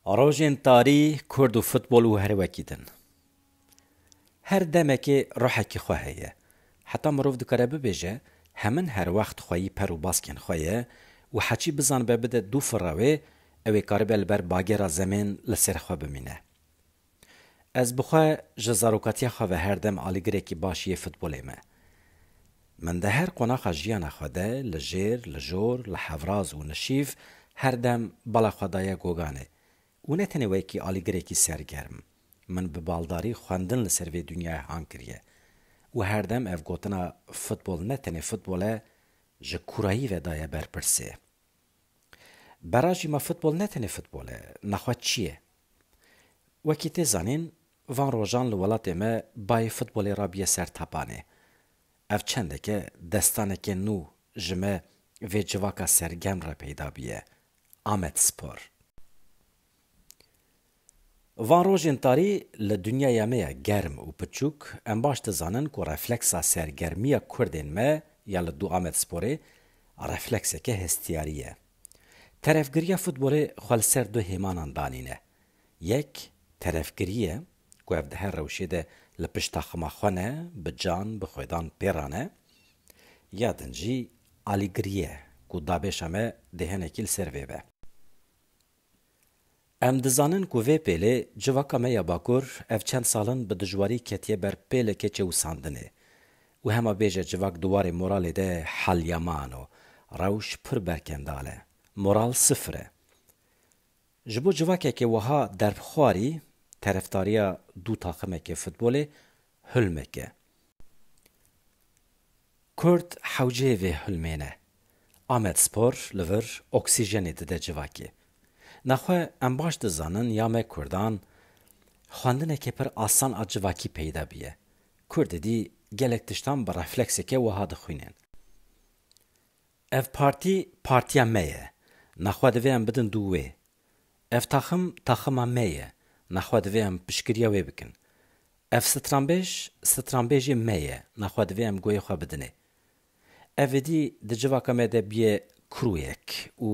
Rojên tarî Kurd û futbol û her wekî din. Her demekê ruhekî xwe heye. Heta mirov dikare bibêje hemin her wext xweyî per û baskên xwe ye û heçî bizanibe bide dû fira wê, ew ê karibe li ber bagêra zemên li ser xwe bimîne. Ez bi xwe ji zarokatiya xwe ve her dem alîgirekî baş yê futbolê me. Min di her qonaxa jiyana xwe de li jêr, li jor, li hevraz û nişîv her dem bala xwe daye goganê û ne tenê wekî alîgirekî sergerm, min bi baldarî xwendin li ser vê dinyayê hang kiriye û her dem ev gotina futbol ne tenê futbol e ji kurayî ve daye berpirsê. Bera jî me futbol ne tenê futbol e, naxwe çi ye? Wekî tê zanîn van rojan li welatê me bayê futbolê rabiye ser tapanê. Ev çendeke destanekê nû ji me vê civaka sergerm re peyda biye, Amedspor. Van rojên tarî li dinyaya me ye germ û piçûk, em baş dizanin ku refleksa sergermiya kurdên me ya li du Amedsporê reflekseke hestiyarî ye. Terefgiriya futbolê xwe li ser du hêmanan danîne. Yek terefgirî ye ku ev di her rewşê de li pişt taxima xwe ne bi can bi xwedan pêra ne. Ya din jî alîgirî ye ku dabêşa me dêhenekî li ser vê be. Em dizanin ku vê pêlê civaka me ya Bakur ev çend salin bi dijwarî ketiye ber pêlekê çewusandinê û hema bêje civak di warê moralê de helyaman o. Rewş pir berkendal e. Moral sifir e. Ji bo civakekê wiha derbxwarî, terefdariya du taximekê futbolê Hulmek e. Kurd hewceyê vê hulmê ne. Amedspor li vir oksîjenê dide civakê. Naxwe em baş dizanin ya me Kurdan xwendinekê pir asan a civakî peyda bîye. Kurd êdî gelek tiştan bi reflekseke wiha dixwînên. Ev partî partiya me ye. Naxwe divê em bidin dû wê. Ev taxim taxima me ye, me xwe divê em piştgiriya wê bikin. Ev stranbêj stranbêjê me ye, me xwe divê em goyê xwe bidinê. Ev êdî di civaka me de bûye kuruyek û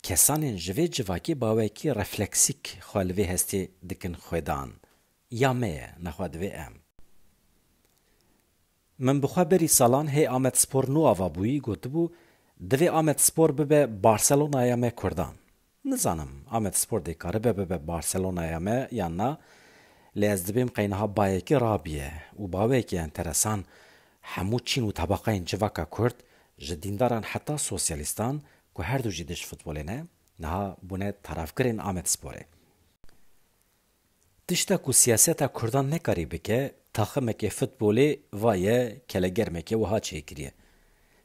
kesanên ji vê civakê bawekî refleksîk xwe li vê hestê dikin xwêdan. Ya me ye, me xwe divê em. Min bi xwe berî salan hê Amedspor nû ava bûyî gotibû, Divê Amedspor bibe Barcelonaya me Kurdan. Nizanim Amedspor dê karibe bibe Barcelonaya me yan na, lê ez dibêm qey niha bayekî rabiye û baweyekî enteresan, hemû çîn û tabaqeyên civaka kurd, ji dîndaran heta sosyalîstan ku herdu jî dij futbolê ne, niha bûne tarafgirên Amedsporê. Tişta ku siyaseta Kurdan nekarî bike, taximekê futbolê va ye kelegermekê wiha çê kiriye.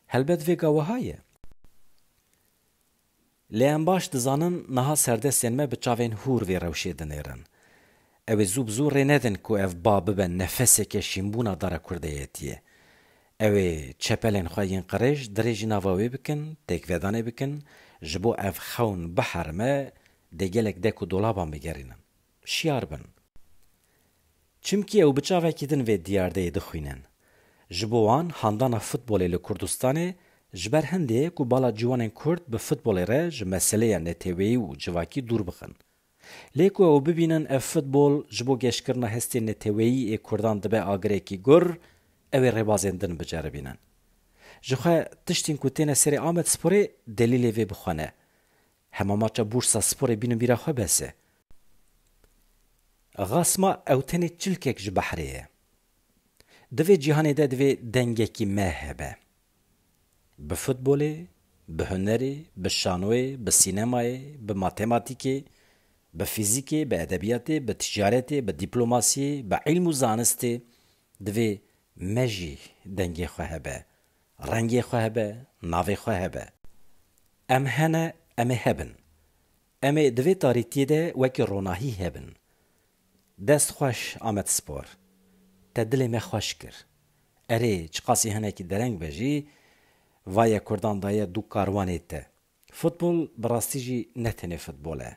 Helbet vê ga wiha ye. Lê em baş dizanin niha serdestên me bi çavên hûr vê rewşê dinêrin. Ew ê zû bi zû rê nedin ku ev ba bibe nefeseke şînbûna dara kurdeyetiyê. Ew ê çepelên xwe yên qirêj dirêjî nava wê bikin, têkvedanê bikin, ji bo ev xewn biherime dê gelek dek û dolaban bigerînin. Şiyar bin. Çimkî ew bi çavekî din vê diyardeyê dixwînin. Ji bo wan handana futbolê li Kurdistanê ji ber hindê ye ku bala ciwanên Kurd bi futbolê re ji meseleya neteweyî û civakî dûr bixin. Lê ku ew bibînin ev futbol ji bo geşkirina hestê neteweyî ê Kurdan dibe agirekî gur, ew ê rêbazên din biceribînin. Ji xwe tiştên ku têne serê Amedsporê delîlê vê bixwene. Hema maça Bursa Sporê bînin bîra xwe bes e. Xasma ew tenê çilkek ji behrê ye. Di vê cîhanê de divê dengekî me hebe. Bi futbolê, bi hunerê, bi şanoyê, bi sînemayê, bi matematîkê, bi fîzîkê, bi edebiyatê, bi ticaretê, bi dîplomasiyê, bi îlm û zanistê divê me jî dengê xwe hebe, rengê xwe hebe, navê xwe hebe. Em hene em ê hebin. Em ê di vê tarîtiyê de wekî ronahî hebin. Dest xweş Amed Spor. Te dilê me xweş kir. Erê, çiqasî hinekî dereng be jî, vaye kurdan daye du karwanê te. Futbol bi rastî jî ne tenê futbol e.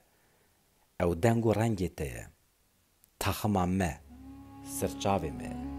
Ew deng û rengê te ye. Taxima me. Sirçavê me ye.